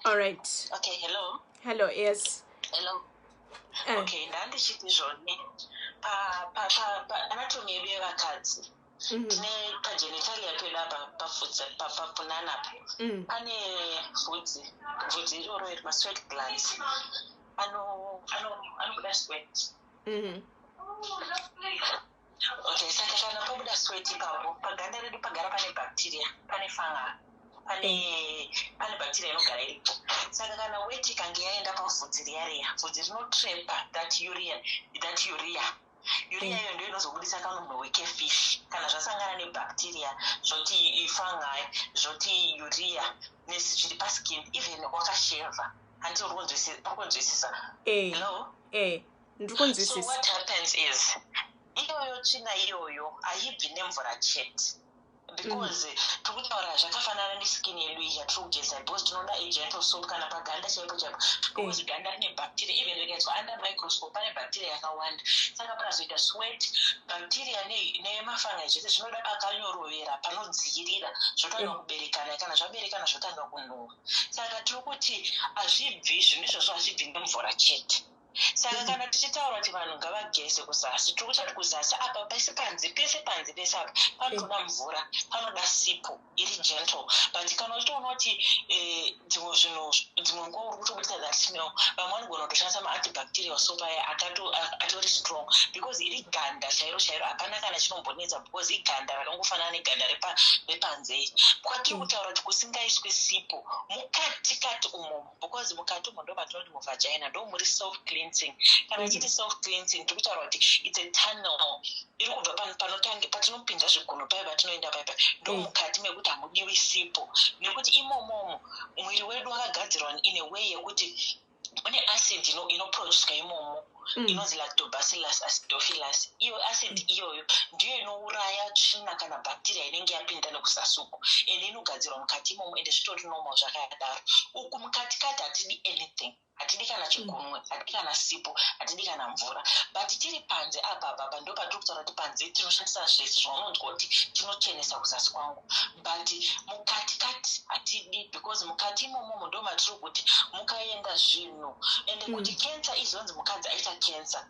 All right. Okay, hello. Hello, yes. Hello. Eh. Okay, ndandichiti zvone pa pa pa pa anatomy yedu yevakadzi mhm. tine pagenitalia pedu apa pafudzi papapunana apa mm. pane vhudzi vhudzi iroro iri masweat glands anobuda sweat mhm. Okay, saka kana pabuda sweat ipapo paganda redu pagara pane bacteria, pane fungal, pane pane bacteria inogara iripo. Saka kana wet ikange yaenda pavhudzi riya riya, vhudzi rinotrapa that urea, that urea. Urea iyo ndio inozobudisa kamunhu weke fish kana zvasangana nebacteria zvoti fungi zvoti urea nesi zviri paskin even wakasheva hanti uri kunzwisisa. Hello? Eh. ndikunzwisisa iyoyo tsvina iyoyo haibvi nemvura chete because mm. tiri kutaura zvakafanana neskin yedu iyi yatiri kugeza because tinoda agent of soap kana paganda chaipo chaipo because mm. ganda rine bacteria even rikaiswa under microscope pane bacteria yakawanda saka pakazoita sweat bacteria nemafanga zvese zvinoda pakanyorovera panodziirira zvotanga mm. kuberekana kana zvaberekana zvotanga kunhuwa saka tiri kuti hazvibvi zvinhu izvozvo hazvibvi nemvura chete saka kana tichitaura kuti vanhu ngavageze kuzasi tiri kuta kuti kuzasi apa pese panze pese panze pese apa panotoda mvura panoda sipo iri gentle but kana uchitoona kuti eh, dzimwe zvinhu dzimwe nguva uri kutobudisa that smell vamwe vanogona kutoshandisa maantibacterial soap aya atori strong because iri ganda chairo chairo hapana kana chinombonetsa because iganda rakangofanana neganda repanze kwatiri kutaura kuti kusingaiswe sipo mukati kati umomo because mukati umo ndo matinoti muvagina ndo muri self cleansing kana ichiti mm. self cleansing tiri kutaura kuti its a tunnel iri kubva pano panotange patinopinda zvigunhu paye patinoenda paye paye ndo mm. mukati mekuti hamudiwi sipo nekuti imomomo mwiri wedu wakagadzirwa in a way yekuti une acid inoproducwa imomo Mm. inonzi lactobacillus acidophilus iyo acid mm. iyoyo ndiyo inouraya tsvina kana bacteria inenge yapinda nekusasuku ende inogadzirwa mukati imomo ende zvitori normal zvakadaro uku mukatikati hatidi anything hatidi kana chigunwe mm. hatidi kana sipo hatidi kana mvura but tiri panze apa baba ndo patiri kutaura kuti panze tinoshandisa zvese zvaunonzwa kuti tinochenesa kuzasi kwangu but mukatikati hatidi because mukati imomomo ndo matiri kuti mukaenda zvinhu zvinhu and mm. kuti cancer izonzi mukadzi aita cancer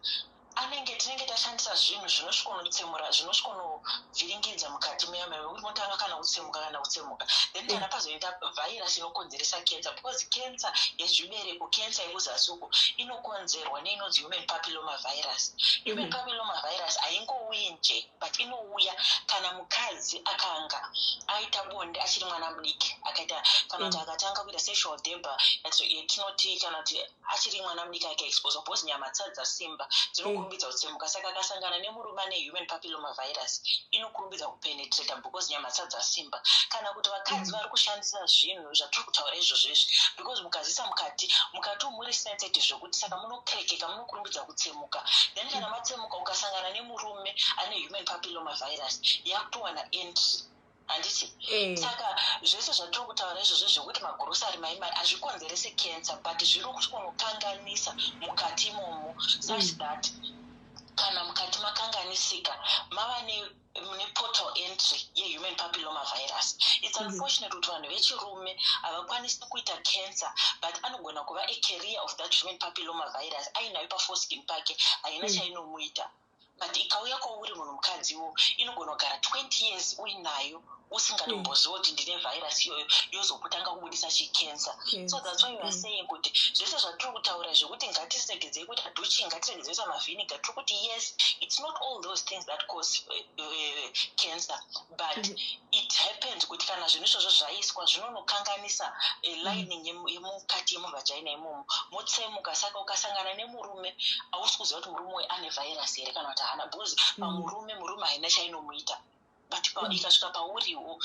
anenge tinenge tashandisa zvinhu zvinosvikonotsemura zvinosvikonovhiringidza mukati muyama yekuti motanga kana kutsemuka kana kutsemuka then kana mm. pazoita vhairasi inokonzeresa cancer because cancer yezvibereko cancer yekuzasi uko inokonzerwa neinonzi human papiloma virus human mm. papiloma virus haingouyi njee but inouya kana mukadzi akanga aita bonde achiri mwana mudiki akaita kana kuti mm. akatanga kuita sexual debor yatinoti kana kuti achiri mwana mudiki akaexposa because nyama tsadza simba dzinokurumbidza mm. kutsemuka saka akasangana nemurume ane human papiloma virus inokurumbidza kupenetrata because nyama tsadza simba kana kuti vakadzi mm. vari kushandisa zvinhu zvatiri kutaura izvozvo izvi because mukazisa mukati mukati umuri sensitive zvekuti saka munokrekeka munokurumbidza kutsemuka tsemuka then kana matsemuka ukasangana nemurume ane human papilloma virus yakutowana entry handiti eh. saka zvese zvatiri kutaura izvozvo zvekuti magurosari maimari hazvikonzerese cancer but zviri kutonokanganisa mukati imomo such mm. that kana mukati makanganisika mava ne mune portal entry yehuman papilloma virus its mhm. unfortunate kuti vanhu vechirume havakwanisi kuita cancer but anogona kuva acareer of that human papilloma virus ainayo pafoskin pake haina mhm. chainomuita but ikauya kwauri munhu mukadziwo inogona kugara 20 years uinayo usingatomboziva kuti ndine virus iyoyo yozokutanga kubudisa chicancer so thats why weare saying kuti zvese zvatiri kutaura zvekuti ngatiregedzei kuita duchi ngatiregedzei kuita mavhiniga tiri kuti yes its not all those things that cause uh, uh, cancer but mm-hmm. it happens kuti kana zvinhu izvozvo zvaiswa zvinonokanganisa uh, lining yemukati yemuvhajaina imomo motsemuka saka ukasangana nemurume hausi kuziva kuti murume uyu ane virus here kana kuti haana bcause mm-hmm. pamurume murume haina chainomuita but mm. ikasvika pauriwo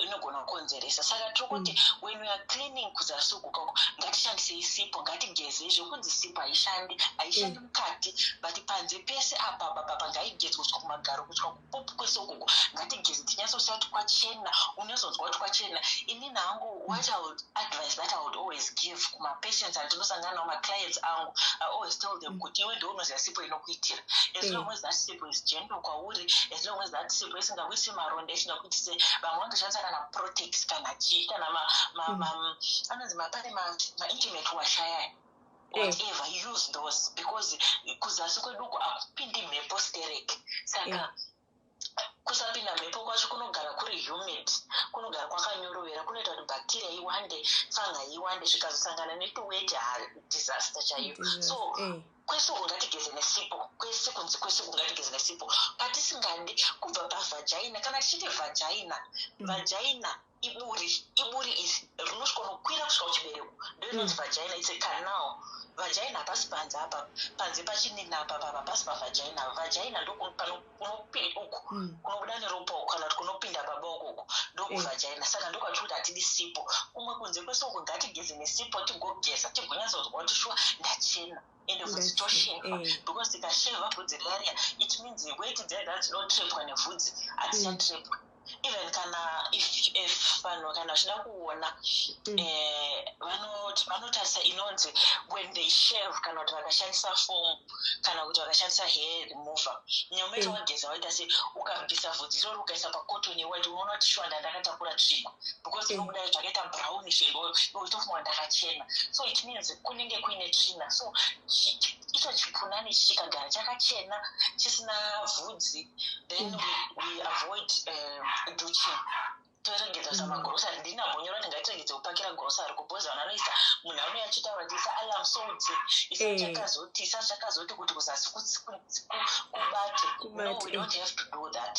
inogona kukonzeresa saka tiri kuti mm. when weare cleaning kuzasi uku kako ngatishandisei sipo ngatigezei zvekunzi sipo haishandi haishandi mm. mukati but panze pese apa baba pangaigezwa kusvika kumagaro kusvika kupopu kwese ukoko ngatigeze tinyatsosiya kuti kwachena unyazonzwa kuti kwachena inini hangu what i would advice that i would always give kumapatients andinosangana nawo maclients angu i always tell them kuti iwe ndounoziva sipo inokuitira as long as that sipo zigender kwauri as long as that sipo isingakuitise maronda isingakuitise vamwe vanotoshandisa kana protex kana chii kana mm. anonzi mapane maintimate washayaya whatever eh. use those because kuzasi kweduku akupindi mhepo stereki saka eh. kusapinda mhepo kwacho kunogara kuri humid kunogara kwakanyorovera kunoita kuti bacteria iwande fanga iwande zvikazosangana netuweti ha disaster chaiyo so eh. kwese uku ngatigeze nesipo kwese kunzi kwese uku ngatigeze nesipo patisingadi kubva pavhajaina kana tichiti vhajaina mm. vhajaina iburi iburi iri rinosvika unokwira kusvika kuchibereko ndoinonzi mm. vhajaina its a canal vhajaina hapasi panze apa panze pachinini apa papa pasi pavhajaina vhajaina ndopano kunopinda uku mm. kunobuda neropa uku kana kuti kunopinda baba uku uku ndokuvhajaina eh. saka ndokwatiri kuti hatidi sipo kumwe kunze kwese uku ngatigeze nesipo tigogeza tigonyatsoziva kuti shuwa ndachena ende vhudzi tosheva eh. because tikasheva vhudzi riya riya it means weti dzaida dzinotrepwa nevhudzi hatisatrepwa mm. even kana if if vanhu kana vachida kuona mm. eh, vanotarisa inonzi when they shave kana kuti vakashandisa fomu kana kuti vakashandisa hair remover nyaumeta mm. wageza waita se ukabvisa vhudzi irori ukaisa pakotoni waiti unoona kuti shuwa ndandakatakura tsvimbo because mm. inobuda zvakaita brownish itofunga ndakachena so it means kunenge kuine tsvina so icho chipunani chikagara chakachena chisina vhu mukadzi then mm. we, we avoid uh, duching toerengedza sa magrosary ndini nambonyora kuti ngatirengedze kupakira grosary kubhozi vanhu vanoisa munhu anouya achitaura kuti isa alarm soti isa eh. chakazoti isa chakazoti kuti kuzasi kubate no we eh. don't have to do that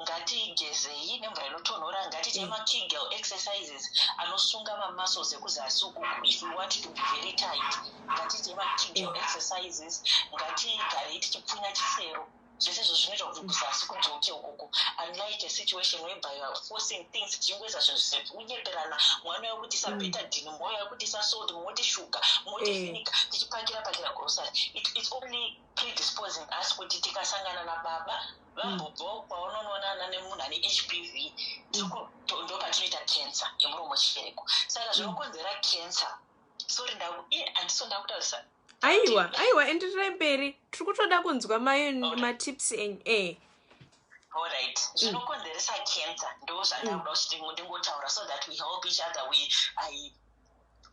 ngatigezei nemvura inotonhora ngatiite mm. makegel exercises anosunga mamuscles ekuzasi uku if we want to be very tight ngatiite makijo exercises ngatigarei tichipfunya chisero zvese izvo zvinoita kuti kuzasi kudzoke ukoko unlike a situation whereby you are forcing things tichingoisa zvinhu zvekunyeperana mwana wekutisa mm. betadine moya wekutisa sold moti shuga moti eh. finika tichipakira pakira grocery its only predisposing us kuti tikasangana nababa vambobvawo mm. kwaunonoonana nemunhu ane h p v mm. ndopatinoita cancer yemuromo chibereko saka zvinokonzera cancer sorry ndaku iye andiso ndakutaurisa aiwa aiwa endererai mberi tiri kutoda kunzwa mayo matips enyu e eh. allright mm. zvinokonzeresa cancer ndo zvandakuda mm. kuti ndingotaura so that we help each other we i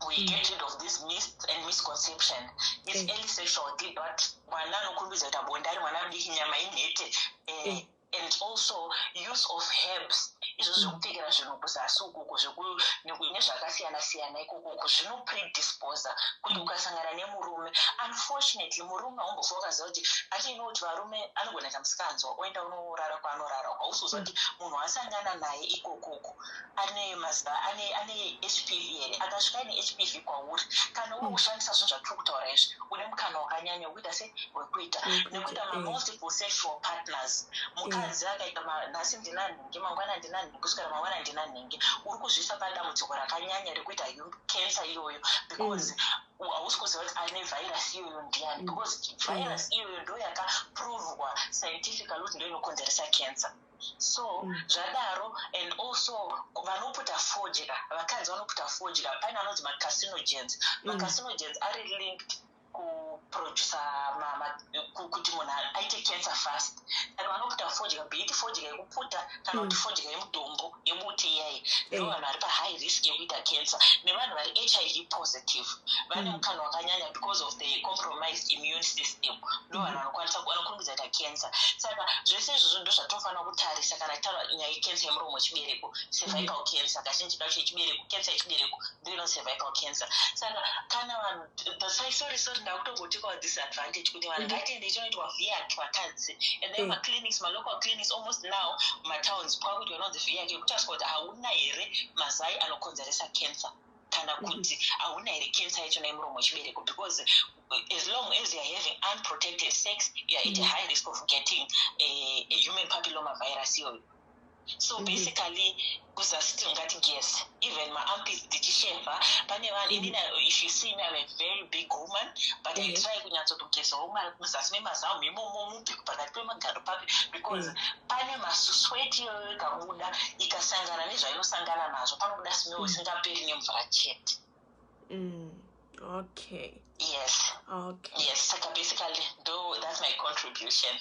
we mm. get rid of this mis and misconception is early sexual deal but mwana anokumbidza kuti abonde ari mwana adiki nyama inhete eh, and also use of herbs izvo zvekupfekera zvinhu kuzasi ukoko zvekuine zvakasiyana siyana ikoko uko zvinopredispose kuti ukasangana nemurume unfortunately murume haumbofa ukaziva kuti ati ino kuti varume anogona kamusikanzwa oenda unorara kwaanorara uko hausi kuziva kuti munhu wasangana naye ikokoko ane maziva ane ane hpv here akasvika ine hpv kwauri kana uri kushandisa zvinhu zvatiri kutaura izvi une mukana wakanyanya wekuita se wekuita nekuita mamultiple sexual partners mukadzi akaita nhasi ndina nhingi mangwana ndina nhingi kusvikira mangwana ndina nhingi uri kuzviisa padambudziko rakanyanya rekuita cancer iyoyo because hausi kuziva kuti ane virus iyoyo ndiyani because virus iyoyo ndoyakaprovwa scientifically kuti ndoinokonzeresa cancer so zvadaro and also vanoputa fodya vakadzi vanoputa fodya paine anonzi macarcinogens mm. macarcinogens ari linked kuproducer kuti munhu aite cancer fast saka vanoputa fodya beiti fodya yekuputa kana kuti mm. fodya yemudombo yebuti iyai eh. ndo vanhu vari pahigh risk yekuita cancer nevanhu vari hiv positive vane mm. mukana wakanyanya because of the compromised immune system ndo vanhu vanokwanisa vanokurumbidza kuita cancer saka zvese izvozvo ndo zvatinofanira kutarisa kana titaura nyaya yecancer yemuromo wechibereko cervical mm. cancer kazhinji kacho yechibereko cancer yechibereko ndo ino cervical cancer saka kana vanhu thasai sorry sorry ndakutogotikwa this advantage kuti vanhu mm-hmm. ngatiende chinoitwa viac vakadzi and then mm. maclinics malocal clinics almost now matowns kwakuitwa inonzi viac yekutariswa kuti hauna here mazai anokonzeresa cancer kana kuti hauna here cancer yacho naye muromo wechibereko because as long as youare having unprotected sex youare at a high risk of getting a, a human papilloma virus iyoyo so mm-hmm. basically kuzasi tingati ges even maampis tichisheva pane vanhu mm-hmm. inina if you see me am a very big woman but i mm-hmm. try kunyatsotogezawo muzasi memazamu imomomo mubheko pakati pemagaro pake because pane masusweti iyoyo ikabuda ikasangana nezvainosangana nazvo panobuda smell mm. isingaperi nemvura chete mm. okay yes okay yes saka basically do that's my contribution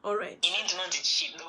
all right ini ndinonzi chido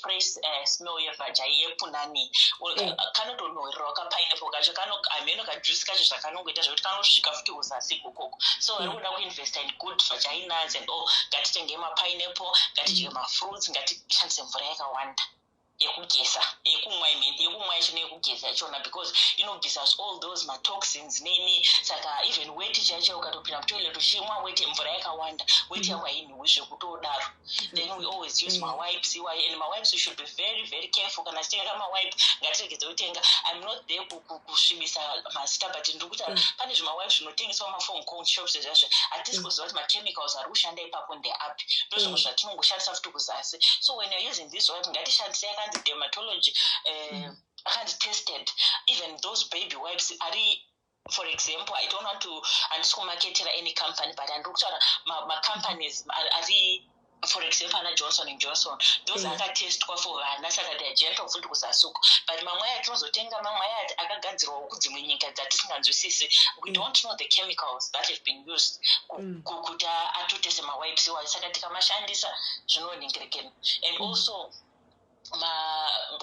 fresh uh, smell yevhaja yepunani eh. kanotonhuhirirawo kapineapple kacho hameno kajuice kacho zvakanongoita zvekuti kanosvika futi uzasi kokoko so vari mm. kuda kuinvesta in good vhaja inuts and all ngatitenge mapineapple ngatidye mm. mafruits ngatishandise mvura yakawanda yekugeza yekumwa imene yekumwa yacho neyekugeza yachona because inogeza all those matoxins neni saka even weti chaicho ukatopinda mutoilet uchimwa weti mvura yakawanda weti yako hainhuwi zvekutodaro mm -hmm. then we always use mm. mawipes iwayo and mawipes should be very very careful kana tichitenga mawipe ngatiregedze kutenga im not there kusvibisa mazita but ndiri kuita mm. pane zvimawipes zvinotengeswa mafom con shops ezvazvo hatisi mm. kuziva kuti machemicals ari kushanda ipapo ndeapi ndozvimwe mm. zvatinongoshandisa futi kuzasi so when you're using this wipe ngatishandise yakanzi dermatology eh, akanzi tested even those baby wipes ari for example i don't want to handisi kumaketera any company but handiri kutaura macompanies ari for example ana johnson and johnson those mm. akatestwa for vana saka they are gentle futi kuzasuko but mamwe aya tinozotenga mamwe aya akagadzirwa kudzimwe nyika dzatisinganzwisisi we mm. don't know the chemicals that have been used mm. kuti atotese mawipes wayo saka tikamashandisa zvinonhingirekena and also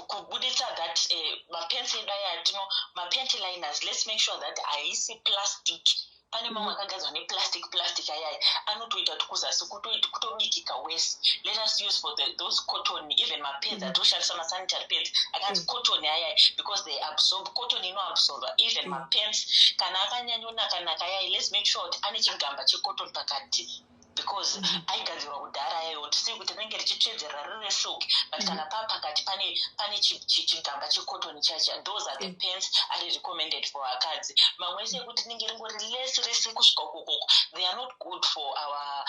kubuditsa that eh, mapensi edu aya atino mapensi liners let's make sure that haisi plastic pane mamwe mm-hmm. akagadzwa neplastic plastic ayaya anotoita kuti kuzasi kutobikika wese let us use for the, those cotton even mapeds mm-hmm. atoshandisa masanitary peds akanzi mm. cotton ayaya because they absorb cotton inoabsorba even mm. mapens kana akanyanyonakanaka ayaya let's make sure kuti ane chigamba checotton pakati because mm -hmm. aigadzirwa kudhara yayo tisii kuti rinenge richitsvedzerera riri resilk but mm -hmm. kana paa pakati pane pane chigamba checotton chacha those are the mm -hmm. pants ari recommended for vakadzi mamwe ese ekuti rinenge ringori less rese kusvika ukokoko they are not good for our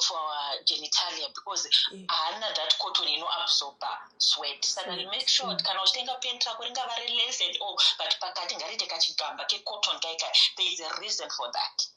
for our genitalia because haana yeah. that cotton ino absorber sweat saka mm -hmm. make sure mm. kana uchitenga pent rako ringava ri less and all but pakati ngariite kachigamba kecotton kaikai there is a reason for that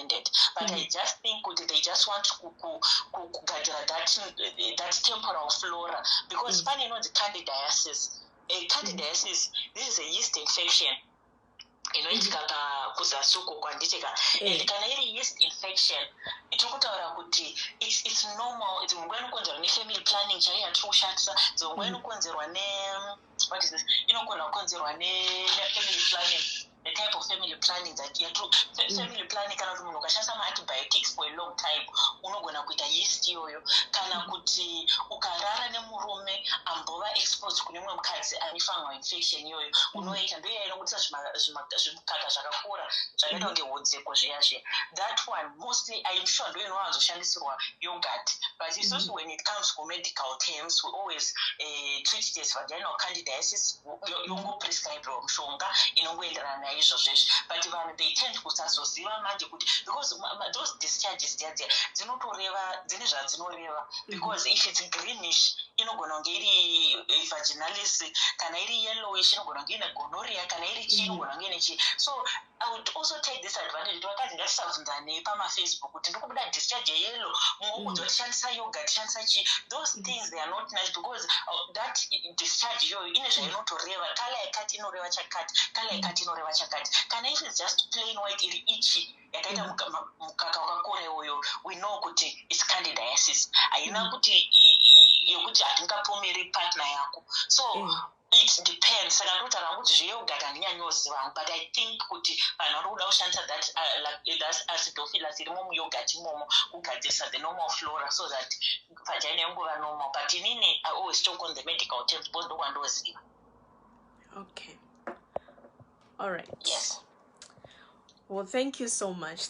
ended but mm. i just think kuti they just want kugadzira that, that temporal flora because mm. pane inonzi candidiasis a eh, candidiasis this is a yeast infection inoitika mm. ka kuzasuko kwanditika mm. and kana iri yeast infection tiri kutaura kuti its, its normal dzimwe nguva inokonzerwa nefamily planning chaiyo yatiri kushandisa dzimwe nguva mm. inokonzerwa ne mm. what is this inogona kukonzerwa nefamily planning the type of family planning that ya true mm. family planning kana kuti munhu ukashandisa maantibiotics for a long time unogona kuita yeast iyoyo kana mm. kuti ukarara nemurume ambova exposed kune mumwe mukadzi ane fungal infection iyoyo mm. unoita ndoiya inobudisa zvimukaka zvakakura zvakaita kunge hudzeko zviya zviya that one Most I'm sure do you know as shandisirwa yogurt, but it's also when it comes to medical terms, we always uh, treat it as vaginal candidiasis. Yongo prescribe mushonga inongoenderana naizvo zveshe, but vanhu they tend kusazoziva manje kuti because those discharges dziya dziya dzinotoreva dzine zvadzinoreva mm-hmm. because if it's greenish inogona kunge iri eh, vaginalis kana iri yellowish inogona kunge ine gonoria kana iri chii mm-hmm. inogona kunge ine chii so I would also take this advantage kuti vakadzi ngatisabvunzanei pamafacebook kuti ndikubuda discharge yelo muokudzwa mm. tishandisa yoga tishandisa chii those mm. things they are not nice because uh, that discharge iyoyo ine zvainotoreva kala yakati inoreva chakati kala mm. yakati inoreva chakati kana if its just plain white iri ichi yakaita mukaka wakakora iwoyo we know kuti its candidiasis haina kuti yekuti hatingapomeri partner yako so mm. it depends saka ndotaura hangu kuti zveyogat handinyanyoziva hangu but i think kuti vanhu vari kuda kushandisa that uh, like, that acidofilas iri momuyogat imomo kugadzirisa the normal flora so that vagina yongova normal but inini i always talk on the medical terms because ndokwandoziva okay all right yes well thank you so much